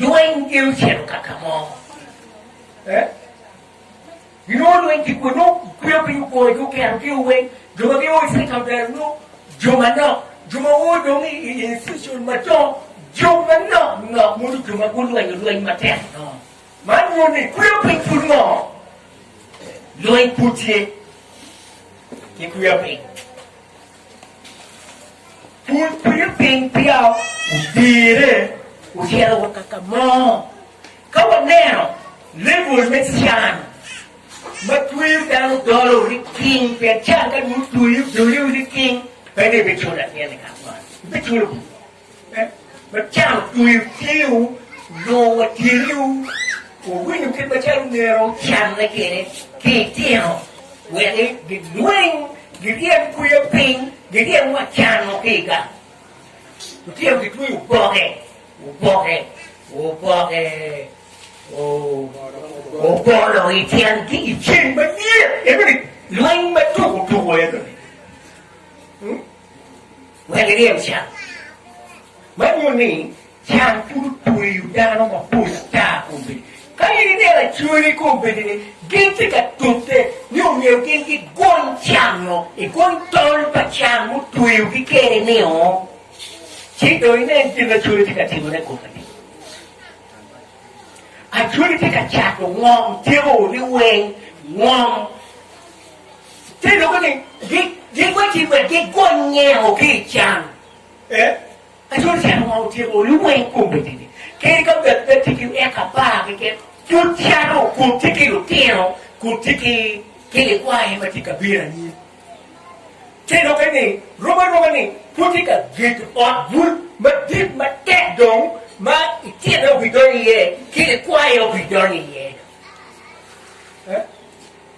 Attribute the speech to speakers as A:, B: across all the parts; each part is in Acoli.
A: Lweny gin ocito ka ka mo? Eh? Ginongo lweny ki kwe? Nongo kweyo piny ogoyo ki oketo ki oweng jo ma ginongo gitye ka ber nongo jo manok, jo ma woo dong i institution madongo, jo manok nok modo jo ma gulwenyo lweny matek nongo. Man nyuto ni kweyo piny pud ngo? Lweny pud tye ki kweyo piny. Kun kwinyo piny peya odyere otyero wa kaka mo ka waneno lebul me can ma tweyo dano dolo ni king pien can ka dong otweyo doliwu ni king pe ni ibiculo latyene kak man ibiculo Macalo otweyo tyengo nongo watyeniwu owinyo kit macalo myero wucanne kwede ki itino, wek gilweny, giryem kwiye piny, giryem wa can mo ki i gang. Lutino gitweyo oboke, oboke, oboke, o- obolo i tyengi i ceng ma niye, enoni lweny ma tuko tuko enoni. Hmm? Wek iryem can. Man nyuto ni can pud otweyo dano mapol ata kun bene ka in ineno acwali kun bedi ni gin tye ka tute ni omyero gin gigony can-nu, igony tol pa can mutweyogi kede-nio, ci dong inen gin ma acwali tye ka timone kong ati. Acwali tye ka cato ngom tyeko ni weng ngom. Te lube ni gikwe tic wek gigony ngengo ki i can. Aco can onongo otyeko olu weng kombe tidi, kadi ka bed pe tye ki eka apar keken, pud cato kun tye ki lutino kun tye ki likwaye ma tye ka bino anyim. Te lube ni romo aroba ni pud tye ka gedo ot bul madit matek dong ma itine obidonyo iye ki likwaye obidonyo iye.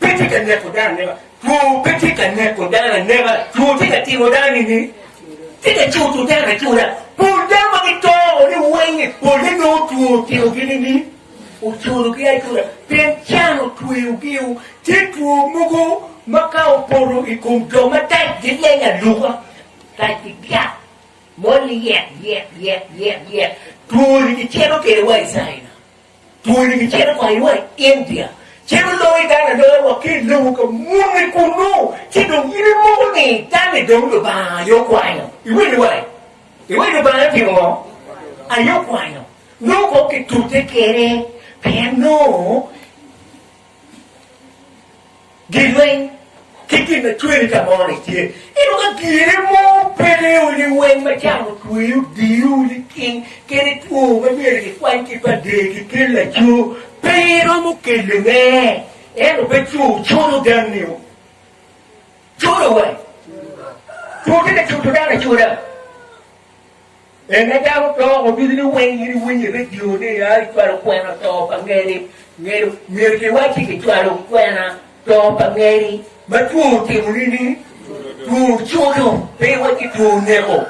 A: pe tye ka neko dano aneka, two pe tye ka neko dano aneka, two tye ka timo dano nini? Tye ka cuto dano acuta. Pol dano ma gito o ni weng-ngi, polle nongo two otimogi nini? Ocutogi acuta, pien can otweyogiu. Tye two mogo ma ka opoto i kom jo matac gileng aluka, tac gigiyak, mol-li yek yek yek yek yek, two-ni gicito kwede wa i caina. Twoni kicito kwayowa i India, ci gulongo igang aloya wa ki i lobo ka muni kunnu, ci dong in imoko ni tal-li dong Lubanga aye okwanyo. Iwinyo wa? Iwinyo Lubanga otimo ngo? Aye okwanyo. Nongo kong kitute kede, pien nongo. Gilweny ki gin ma cweri ka moni tye, ento ka gire mo peke o liweny ma camo tweyo diyo liking kene two ma myero gikwany ki pa dee ki kel laco pe iromo kele ne ento pe co codo ganni o codo wai two tye ka codo dano acoda. En ka dako oto wa ducu ni weng in iwinyo i redio ni a kicwalo kwena to pa ngeri, ngedo myero kiwacci kicwalo kwena to pa ngeri ma two otimo nini? Two ocuto, pe iwacci two oneko.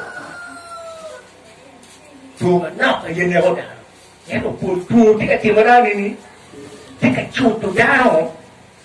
A: Two manok aye neko dano. Ento pol two tye ka timone nini? Tye ka cuto dano.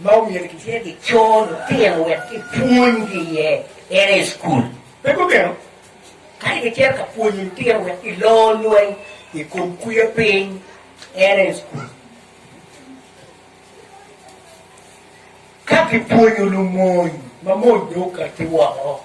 A: ma omyero gitye ki co lutino wek kipwonygi iye en aye cukul. Pe kumeno, kadi kicito ka pwonyo lutino wek gilor lweny i kom kwiyo piny en aye cukul. Ka kipwonyo lumony ma mony dong okatti woko,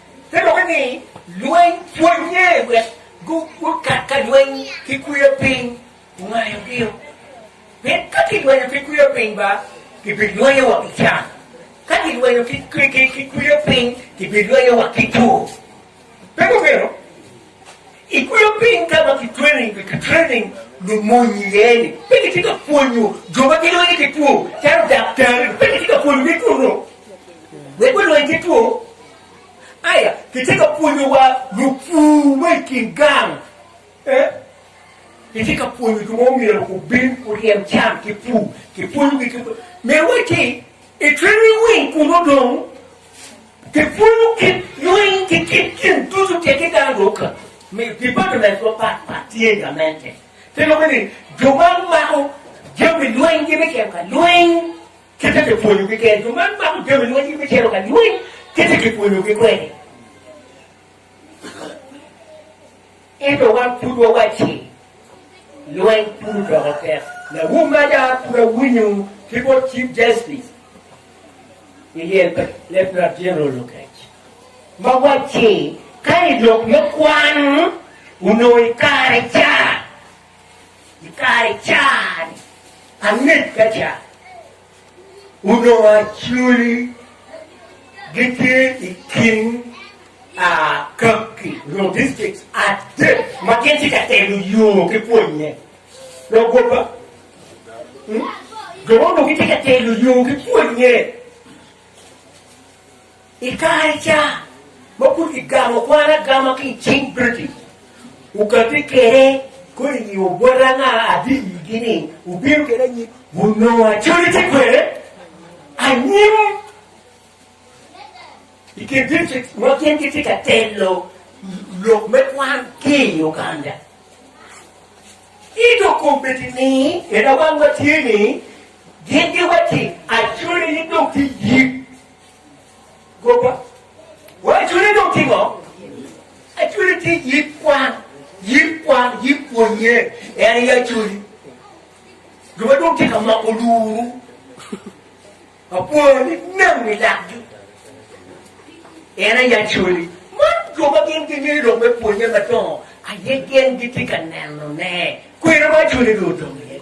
A: Te lokke ni, Lweny pwonnye wek gukat ka lweny ki kweyo piny ongaya pio, pien ka gilwenyo ki kweyo piny ba, gibilwenyo wa ki can, ka gilwenyo ki kweyo piny, gibilwenyo wa ki tur. Pe gumito? I kweyo piny ka ma kitrening pi kitrening lumony iye-ni, pe kitye ka pwonyo jo ma gilweny ki two calo daktari-ni pe kitye ka pwonyogi two nongo wek gulweny ki two. Aya, kitye ka pwonyo wa lupur ma i kin gang. Eh, kitye ka pwonyo jo ma omyero gubin guryem cam ki pur, kipwonyogi ki myero wacci i trening wing kunu dong. Kipwonyo kit lweny ki kit gin ducu keken dano dong ka miyo departments mapat pat tye gamente. Pe lube ni jo ma mako jami lweny gi me cito ka lweny kite kipwonyo gi kene, jo ma mako jami lweny gi me cito ka lweny kite kipwonyo gi kwede. Ento wan pud wawacci, Lweny pud odoko tek. Lawum maja pud awinyo ki bot Chief Justice i lyel pa Lieutenant General Lokech ma wacci ka i lok me kwan onongo i kare ca, i kare ca-ni angec ka ca, Onongo Acholi gitye i kin dictrict adek ma gin tye ka telo yo ki pwonye. Dok gwoba, jo ma onongo gitye ka telo yo ki pwonye I kare ca ma pud kigamo kwan agama ki i cing British, wugabbe kwede kodi ni obwota anga adii iyigi ni wubino kwede anyim. Wunongo Acholi tye kwede anyim i kin district ma gin gitye ka telo lok me kwan ki i Uganda. Ento kombeddi ni en awang watye ni gin giwacci Acholi ni dong tye yik Goba. Wa acwere dong tingo? Acwere ti yik kwan, yik kwan, yik pwonye, en i acweri. Goba dong tingo moko luru. Apwoyo ni neno ni lakgi. En i acweri. Man goba gin gingeyo dong me pwonye madongo, aye gen giti ka neno ne. Kwene ma acwere dong odongo iye.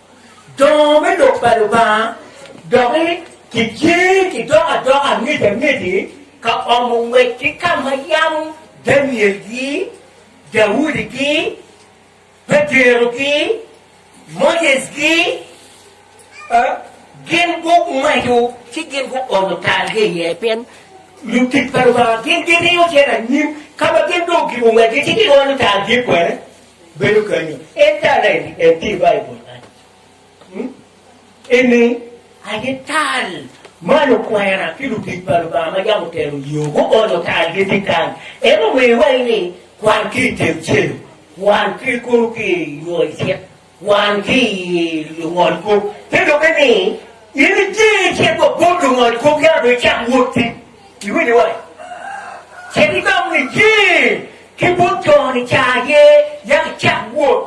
A: Dongo me lok pa Lubanga doki ki jee ki dok adok angec angeci ka omo ngwec ki ka ma yam Daniel gi Daudi gi Petero gi Moses gi gin gu maco ci gin gu ono tal gi iye pien lutic pa Lubanga gin giriyo cito anyim ka ma gin dong gibo ngwec gi ci gi ono tal gi kwene. bedo kenyo en tal en en tye i Baibul kany hmm? ene aye tal ma lukwena ki lutic pa Lubanga ma yam otelo yo guonyo tal gitye kany en omiyo iwaci ni kwan ki i teng celo kwan ki kulu ki i yo icit kwan ki i lungol kop te doki ni in ijee icit wa bot lungol kop yam dong icak wot tic Iwinyo wai? Ce gidong niye ki bot jo-ni ca aye, yako icak wot,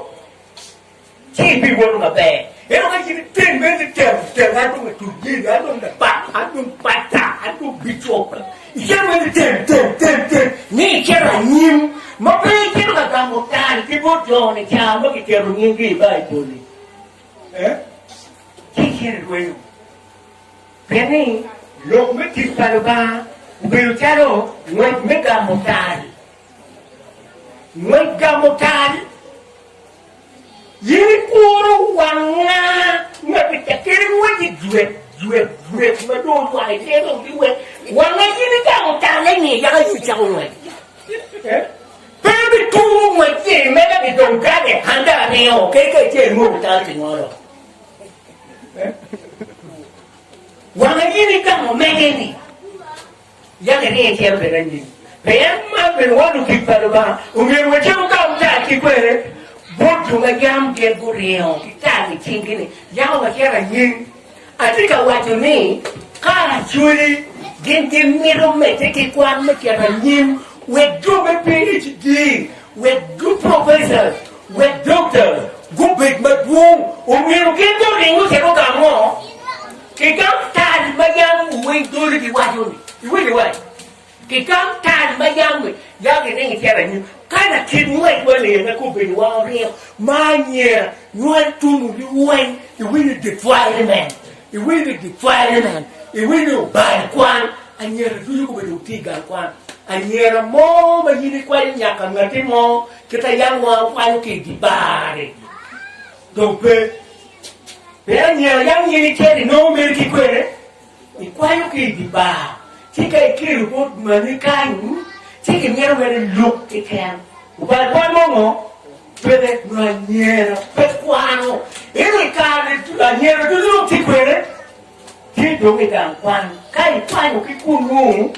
A: ci ibiwoto maber. Ento ka in iteng bene ni temo temo, an dong atut nyeni, an dong labat, an dong pasta, an dong bicop, icito bene ni temo temo temo temo, ni icito anyim ma pe icito ka gamo tal ki bot jo-ni ca ma kiketo nying-gi i Baibul-li, ci icito irwenyo. Pien ni lok me tic pa Lubanga obedo calo ngwec me gamo tal. Ngwec gamo tal. In ikuro wang nga ma bicakere ngweci jwet jwet jwet ma dong olwak iye dong biwe wanga in igamo tal eni yaka in icako ngwec. Eh? Pe bituro ngwec-ci mega bidong gade handa aryo keke acel mo bital ki ngolo. Wanga nyini ka mo mege ni yake ni e cero bene nyini. Pien ma bene wano gik pa luba umir we cemo ka uta ki kwere but tunga yam gin guringo ki tal i cingi ni yako wa cera nying. Ati ka waco ni ka cwili gin gin mito mete ki kwan me cera nying wek jo me PHD wek du professors Wek doktawu gubed madwong, omyero gin guring ocito ka mo? Kigang tal ma yam wuwiny doli giwaco-ni, iwinyo wai? Kigang tal ma yam ya giring icito anyim, ka latit ngwec ma ler ma kobbedo wa oryeko, ma anyira nywal tungu liweny, iwinyo dye cware men? Iwinyo dye cware men? Iwinyo bal kwan? Anyira ducu kobedongo tye i gang kwan, anyira mo ma in ikwanyo nyaka ngatti mo, Kit a yam wa wakwanyo ki i di bar-ri dong pe. Pien anyira yam nyen ikeri nongo meri ki kwene ikwanyo ki i di bar, ci ka ikeri obot mani kany, ci kimito mere iluk kiken. Ubal bal mo ngo? Peke, nyo anyira pe kwano. Ento i kare-ni anyira ducu dong tye kwene, ci dong igang kwan. Ka ikwanyo ki kunnu,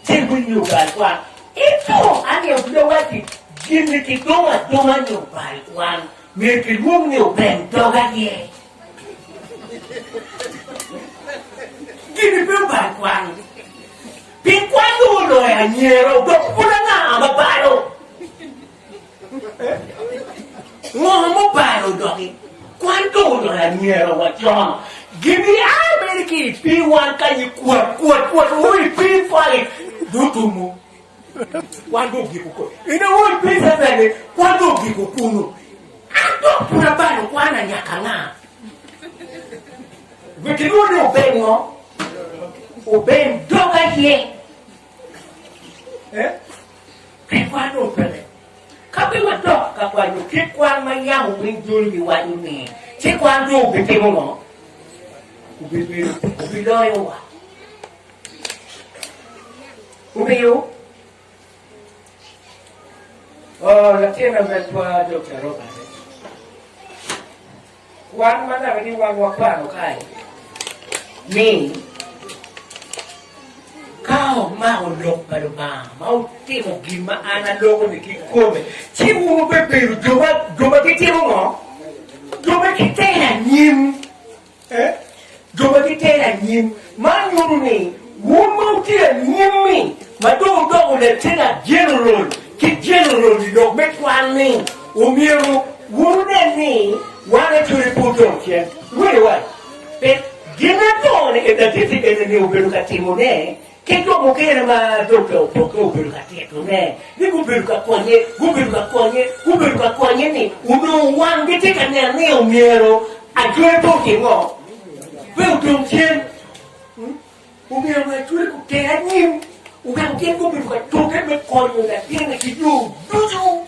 A: Ci gunyo bal kwan ki tung aryo bute owacci, Gin-ni kidungo adunga nyo bal kwan myero kilwong ni obeng dog aye. Gin-ni pe obal kwan, pien kwan dong oloyo anyira, odok pud anga ma balo? Ngo mubalo doki? Kwan dong oloyo anyira wa con. Gin gia mere ki i pi wan kanyi kwot kwot kwot wo i pi fali dong tumu. Kwan dong giko ko. Ina wo i pi seseni kwan dong giko kunu. An dong pud abalo kwan na nyaka nga? Wek ilwongo ni obeng ngo? Obeng dog aye. Eh? Pi kwan dong pele. Ka pe wadok ka kwan dong kit kwan ma yam omwiny dul giwaco ni, ci kwan dong obitimo ngo? Obibedo, obiloyo wa. Omiyo, oh, latin ametwa Dokta Robert, Wan ma naka ni wan wakwano kae ni ka omako lok pa Lubanga ma otimo gin ma an aloko ni ki kome ci wun wubebedo jo ma jo ma gitimo ngo? Jo ma giter anyim. Eh? Jo ma gitero anyim. Man nyuto ni wun ma wutye anyim-mi ma dong wudoko letenant jeneral ki jeneral-li lok me kwan-ni, omyero wun wunen ni wan acwere pud dong cen. Lulewa pe gin ma dong latiti enini obedo ka timone. Ki jo mukene ma dogge opokke obedo ka titone ni gubedo ka konye, gubedo ka konye, gubedo ka konye ni onongo wanggi tye ka neno ni omyero ajwer pe otim ngo, pe odong cen. Omyero onongo ajwer oter anyim, oweko gin gubedo ka tute me konyo latinne ki yo ducu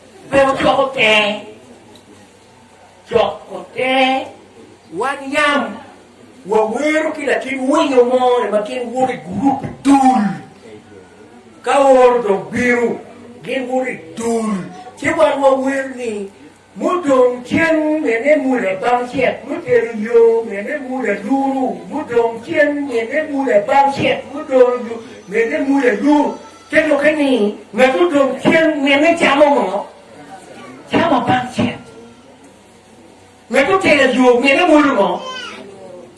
A: Pe wucoko ter, coko ter. Wan yam wawero ki latin winyo mo ni ma gin woto i gurup i dul. Ka oro dong bino, gin woto i dul, ci wan wawero ni, Mudong cen mene muda bang cet mutero yo, mene muda luru, mudong cen mene muda bang cet mudoro yo, mene muda luru. Te dokke ni, ngat odong cen nene camo ngo? Camo bang cen. Ngat otero ayur nene mwodo ngo?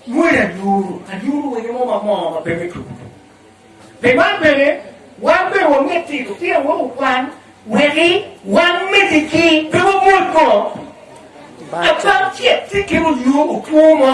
A: Mwodo ayur. Ayur owinyo mo ma moo ma pe me tuku tuku. Pi man bene, wan bene wamyero tito tyen wa okwan weki wan megi ki pe wamwod ngo? Abang cen, te kelo ayur otwo mo.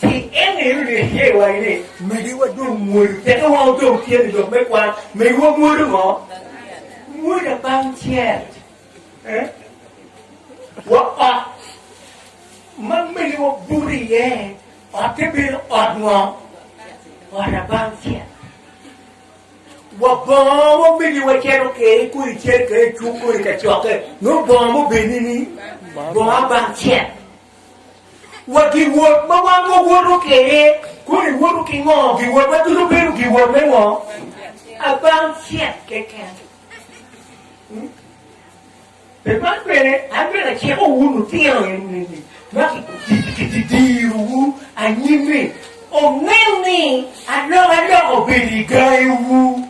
A: Ci en aye olyero iye i wangi ni, Magi wa dong mwodo, teke wa odong tye ni lok me kwan. Magi wa mwodo ngo? Mwoda bang cel. Eh? Wa ot ma magi wa buto iye, otte bedo ot ngo? Ot abang cel. Wa bongo mo magi wa celo kere kodi cel kere cuk kodi ka cokke, no bongo mo beni ni bongo abang cel. Wa giwot ma wan wawoto kwede koni woto ki ngo? Giwot ma ducu bedo giwot me ngo? Abang cek keken. Pe man bene an bene aciko wu lutino enini ma kidirowu anyim-mi omeng ni alokaloka obed i gangiwu.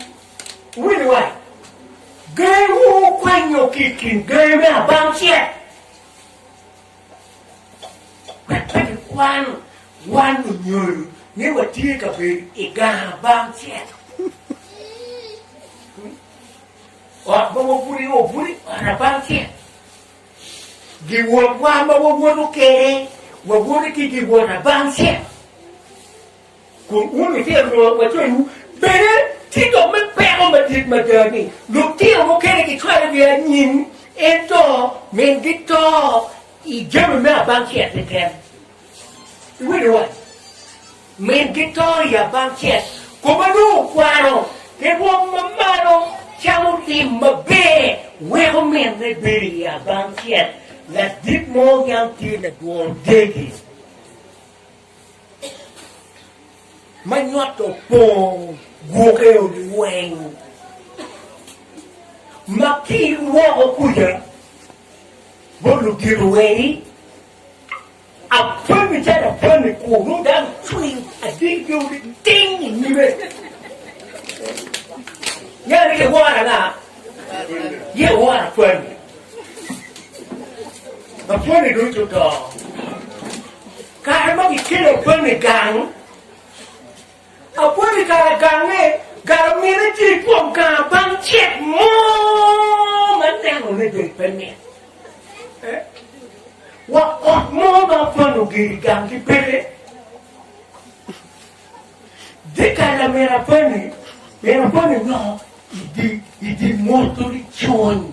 A: Wini wa, gangiwu kwanyo ki i kin gangi me abang cek. Wek pe kikwan wan onyonyo ni watye ka bedo i gang abang cet. Ot ma wabuto iye obuto i ot abang cet. Giwotwa ma wawoto kwede, wawoto ki giwot abang cet. Kun wun litino lworo wa coyiwu, bene tye jo me peko madit mada ni lutino mukene gicwalo gi anyim, ento min gito i jami me abang cet ni tem. Iwinyo wany? Min gito i abang cet, kome nongo okwano, ki rwom ma malo camo lim maber, weko min ne bedo i abang cet ladit mo yam tye ladwor degi. ma nywat opong gwoke odi weng ma ki woko kuja bo ludito weri apani calo apani ku nung dano cwiny adil pe odi ting i nyime ngene ki wora na ye wora apani apani ducu to Kare ma kikelo bam i gang, apwonyo i kare gange, galamine tye i kom gang bang cek mo ma nenone ber pe mit. Wa ot mo ma apwonyo oger i gang ki peke, dye kal lamine apwonyo, min apwonyo nyoko i dye mwoto ni cwony.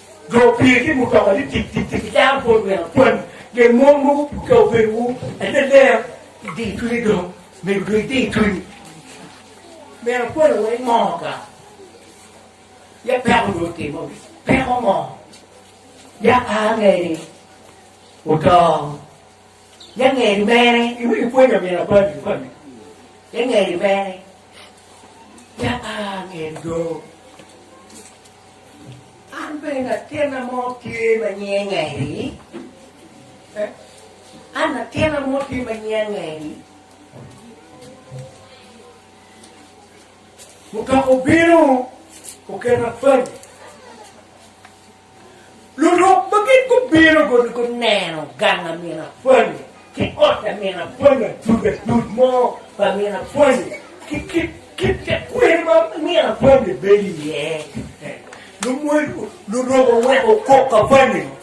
A: Jo opye ki mutoka ni tik tik tik icaro bot wek akwani pien mon mogo ka obedo wu aye ler idiyo cwinyi dong mego dong idiyo cwinyi mera akwani wa ingoo ka ya peko dong otimo gi peko ngo ya angeni oto ya ngeni mere iwinyo pwonyo amin akwani akwani ya ngeni mere ya angeni dong An bene latinna mo tye ma nyinge Ngeri. An latinna mo tye ma nyinga Ngeri. Mutoka obino oketa pany. Lurok ma gin gubino kun guneno gang a min apwony ki ot a min apwony ma dud adud mo pa min apwony ki kit kit te kwir ma min apwony bibedo iye. Lumwony lurok oweko kok apwony-nino.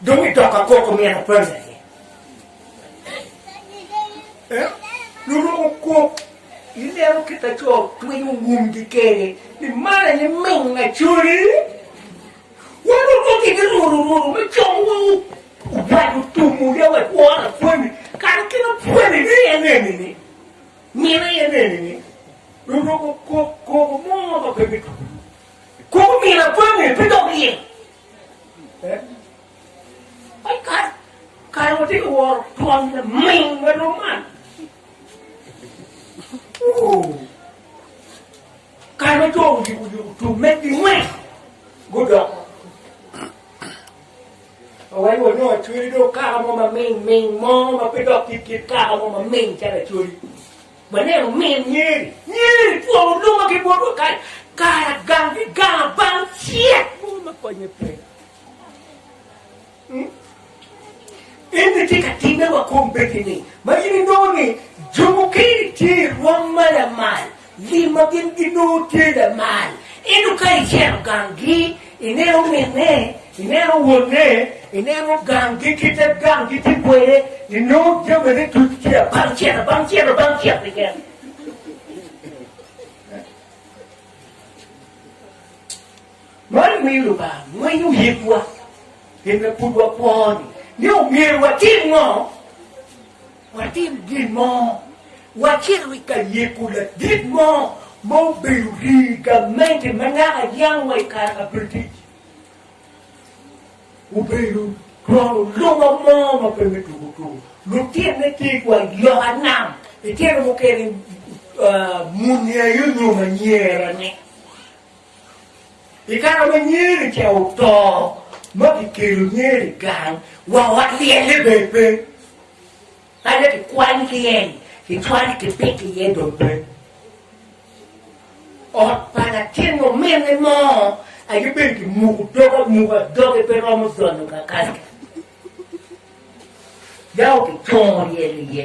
A: Dong i tok akok omyero apande iye. Eh? Luruko kop ilero kit ma co twinyo wumgi kede ni man aye ming acoli. Wan onongo kede ruru ruru me como wa ubad otumu ya wa tworo apwani kara kit apwani ni en enini mine en enini luruko kop koko mo ma pe me tuku koko mine apwani pe dok iye. Kara watye ka woro twon laming ma rom man. Kara ma jo oyubo yubo tum me gingweng gudok. Awai wa nongo acweli do kara mo ma ming ming mo ma pe dok ki kit kara mo ma ming calo acweli. Waneno min Nyeri, Nyeri twongo luma ki bot wakayi, kara gang ki gang abal ocek mogo ma konye pe. Hmm? En ni tye ka timme wa kom bedi ni, ma in inongo ni jo mukene tye i rwom ma lamal, lim ma gin ginongo tye lamal, ento ka iceno gang gi, Ineno minne, ineno wonne, ineno ganggi ki te ganggi ki kweye, inongo jamine ducu tye abang cente, abang cente, abang cente keken. Man miyo Lubanga ngwenyo yikwa, gin ma pud wakwo-ni, ni omyero watim ngo? Watim gin mo. Wacit wi ka yiko ladit mo ma obedo rii gamente ma naka yam wa i kare kabedo tic. Obedo twon olunga mo ma pe me tuku tuku. Lutinne tye ki wa i loka nam, itino mukene muni aye onyo ma nyera ne. I kare ma nyeri ca oto ma kikelo nyeri i gang wa walyelle bene pe, kadi bed kikwany ki en, kicwalo kipito iye dong pe. Ot pa latin omene mo aye bene kimuko doge amuka, doge pe romo donyo kakal. Yako kicongo ryel iye,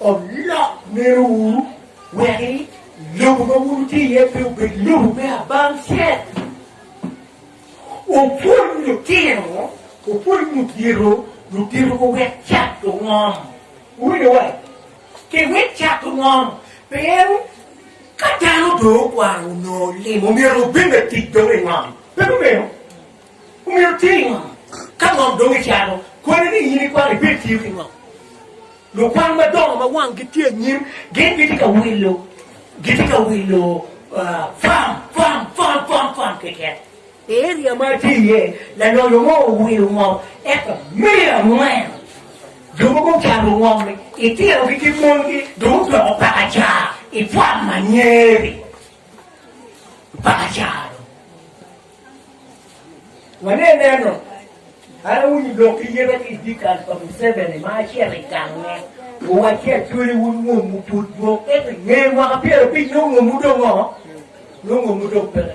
A: Olok ngerowu wek lobo ma wun wutye iye pe obed lobo me abang cel. Wupwony lutino, wupwony lutito, lutito ko wek cat ongom. Wuwinyo wa? Ke wek cat ongom. Pien ka dano dong okwano onongo limo myero obed latic dong i ngom. Pe kumeno? Omyero itim ngo ka ngom dong icano kwani ni in ikwano? Ibed tiyo ki ngo? Lukwan madongo ma wanggi tye anyim gin gitye ka wilo gitye ka wilo fam fam fam fam fam keken. I eria ma atye iye, laloyo mo owilo ngom eka miya angwen. Jo mogo ocato ngom-mi, itinogi ki mongi dong odoko pakacar i fam ma nyeri. Pakacar dong. Wane neno, an awinyo lok ki yeta ki idikal pa Museveni ma acito i gange, owacci acweli wun ngomwu pud dwong, ento nge mwaka pyero abicnyo ngomwu dong oo, nongo ngomwu dong peke.